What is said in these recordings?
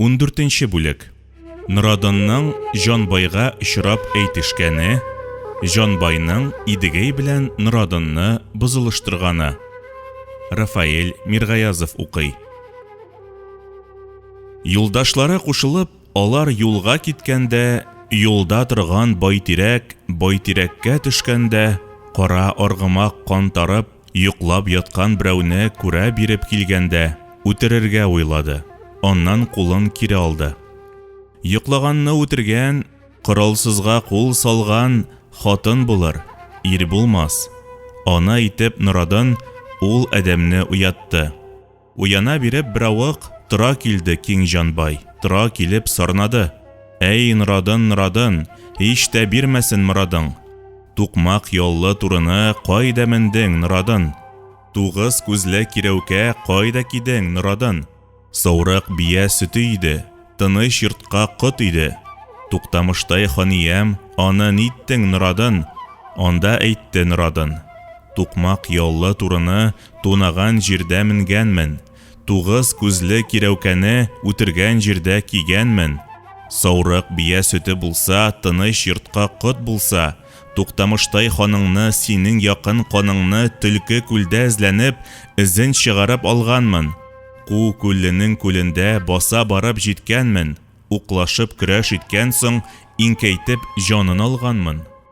Ундүртенче бүлек. Норадынның Җанбайга очрап әйтешкәне, Җанбайның Идегәй белән Норадынны бозылыштырганы. Рафаэль Миргаязов укый. Юлдашлары кушылып, Алар юлга киткәндә, юлда торган байтирәк, байтирәккә төшкәндә, кара аргымак кантарып, йоклап яткан берәүне күрә биреп килгәндә, үтерергә уйлады, аннан кулын кире алды. Йоклаганны үтергән, коралсызга кул салган хатын булыр, ир булмас. Ана итеп норадын ул адәмне уятты. Уяна биреп беравык, Тора килде киң җанбай, Тора килеп сорнады. Әй, Норадын, Норадын, Һич тә бирмәсен морадың. Тукмак яллы турыны Кайда мендең, Норадын? Тугыз күзле кирәүкә Кайда кидең, Норадын? Саурык бия сөте иде, Тыныч йортка кот иде. Туктамыштай ханиям, Аны ниттең, Норадын? Анда әйтте Норадын. Тукмак яллы турыны Тунаган җирдә менгәнмен. Тугыз күзле кирәүкәне үтергән җирдә кигәнмен. Саурык бия сөте булса, тыныч йортка кот булса, Туктамыштай ханыңны, синең якын каныңны Төлке күлдә эзләнеп, эзен чыгарып алганмын. Ку күлленең күлендә баса барып җиткәнмен, уклашып көрәш иткән соң, иңкәйтеп җанын алганмын.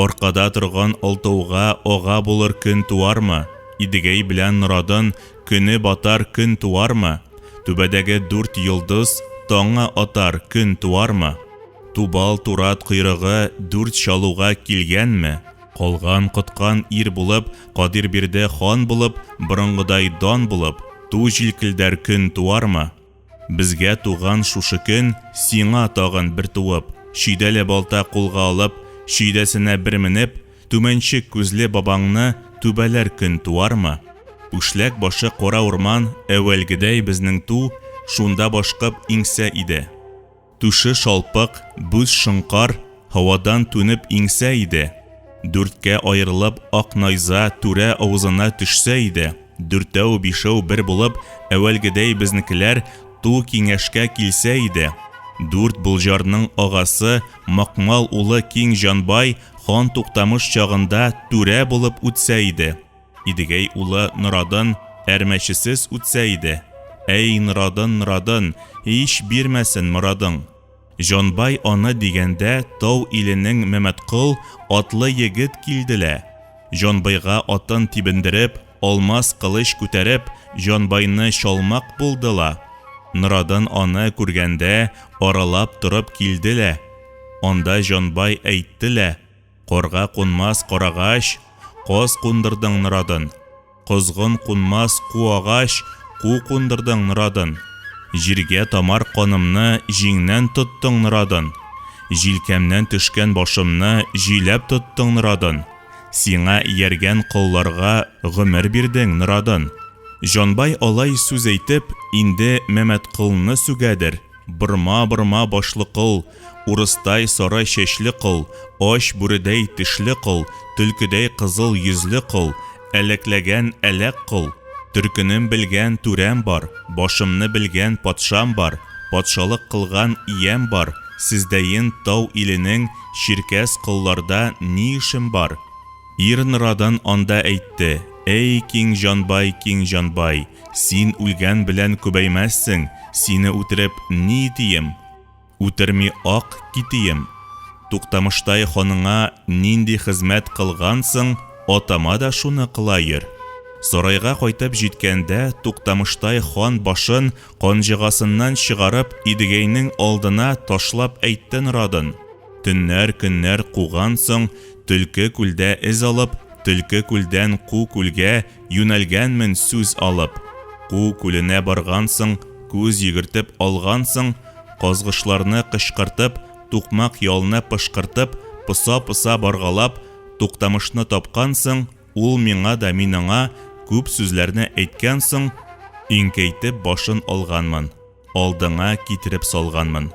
Аркада торган алтауга ага булыр көн туармы? Идегәй белән Норадын көне батар көн туармы? Түбәдәге дүрт йолдыз таңы атар көн туармы? Тубал турат койрыгы дүрт чалуга килгәнме? Калган коткан ир булып, Кадир бирде хан булып, борынгыдай дан булып, ту җилкелдәр көн туармы? Безгә туган шушы көн, Сиңа тагын бер туып, Чөйдәле балта кулга алып, Чөйдәсенә бер менеп, Түмәнчек күзле бабаңны Түбәләр көн туармы? Үшләк башы кара урман, Әүвәлгедәй безнең ту, Шунда башкып иңсә иде. Түше шалпык, бүз шоңкар, һавадан түнеп иңсә иде, дүрткә аерылып, ак найза түрә авызына төшсә иде, дүртәү-бишәү бер булып, әүвәлгедәй безнекеләр ту киңәшкә килсә иде, дүрт Болҗарның агасы, Макмал улы Киң Җанбай хан Туктамыш чагында түрә булып үтсә иде. Идегәй улы Норадын әрмәчесез үтсә иде. Әй, Норадын, Норадын, ич бирмәсен морадың. Җанбай аны дигәндә, тау иленең Мәмәткол атлы егет килде лә, Җанбайга атын тибендереп, алмас кылыч күтәреп, Җанбайны чалмак булды ла. Норадын аны күргәндә, аралап торып килде лә. Анда Җанбай әйтте лә. Корга кунмас карагач, Коз кундырдың норадын. Козгын кунмас ку агач, Ку кундырдың норадын. Җиргә тамар канымны Җиңнән тоттың норадын. Җилкәмнән төшкән башымны Җиләп тоттың норадын. Сиңа ияргән колларга Гомер бирдең норадын. Җанбай алай сүз әйтеп, инде Мәмәтколны сүгәдер, Борма, борма, башлыкол, Урыстай сарай чәчле кол, Ач бүредәй тешле кол, Төлкедәй кызыл йөзле кол, Әләкләгән әләк кол. Төркенем белгән түрәм бар, Башымны белгән патшам бар, Патшалык кылган иям бар, Сездәен тау иленең Чиркәс колларда ни эшем бар? Ир нырадан анда әйтте, Әй, киң җанбай, киң җанбай, Син үлгән белән күбәймәссең, Сине үтереп, ни итием? Үтерми ак китием. Туктамыштай ханыңа нинди хезмәт кылгансың, атама да шуны кыла йөр. Сарайга кайтып җиткәндә, Туктамыштай хан башын канҗыгасыннан чыгарып, Идегәйнең алдына ташлап әйтте норадын. Төннәр, көннәр кугансың, Төлке күлдә эз алып, Төлке күлдән ку күлгә, Юнәлгәнмен сүз алып, Ку күленә баргансың, Күз йөгертеп алгансың, Казгышларны кычкыртып, Тукмак ялны пышкыртып, Поса-поса баргалап, Туктамышны тапкансың, Ул миңа да мин аңа, Күп сүзләрне әйткән соң, Иңкәйтеп башын алганмын. алдыңа китереп салганмын.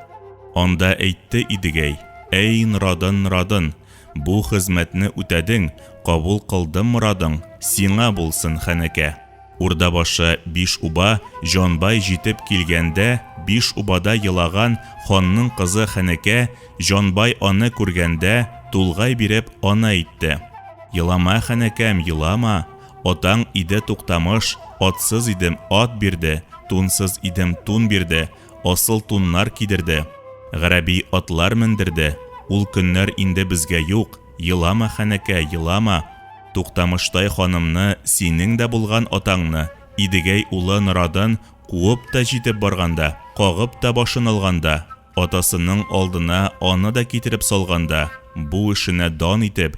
Анда әйтте Идегәй, Әй, Норадын, Норадын, бу хезмәтне үтәдең, кабул кылдым морадың, сиңа булсын хәнәкә. Урдабашы биш уба Җанбай җитеп килгәндә, биш убада елаган ханның кызы Хәнәкә, Җанбай аны күргәндә, тулгай биреп, аны әйтте. Елама, Хәнәкәм, елама! Атаң иде Туктамыш, атсыз идем, ат бирде, тунсыз идем, тун бирде, асыл туннар кидерде, гәрәби атлар мендерде. Ул көннәр инде безгә юк, елама, ханәкә, елама. Туктамыштай ханымны, синең дә булган атаңны, Идегәй улы Норадын куып та җитеп барганда, кагып та башын алганда, атасының алдына аны да китереп салганда, бу эшенә дан итеп,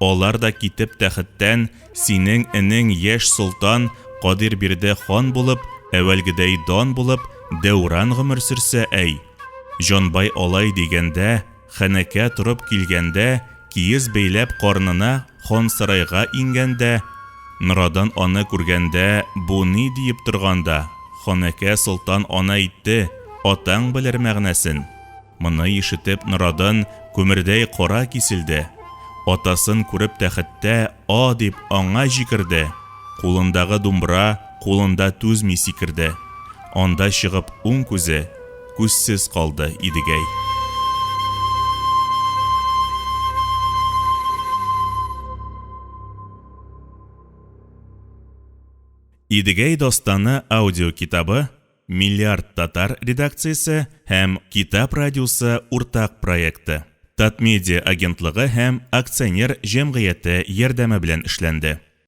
Алар да китеп тәхеттән синең энең яшь солтан Кадирбирдә хан булып, әвәлгедәй дан булып, дәүран гомер сөрсә, әй! Җанбай алай дигәндә, хәнәкә торып килгәндә, киез бәйләп карнына хан сарайга иңгәндә, Норадан аны күргәндә, бу ни диеп торганда, ханәкә солтан ана әйтте, атаң белер мәгънәсен. Моны ишетеп Норадын күмердәй кара киселде. Атасын күреп тәхеттә а дип аңа җикерде. Кулындагы думбра кулында түзми сикерде. Анда чыгып уң күзе күзсез калды Идегәй. Идегәй дастаны аудиокитабы Миллиард татар редакциясе һәм Китап радиосы уртак проекты, Татмедиа агентлыгы һәм акционер җәмгыяте ярдәме белән эшләнде.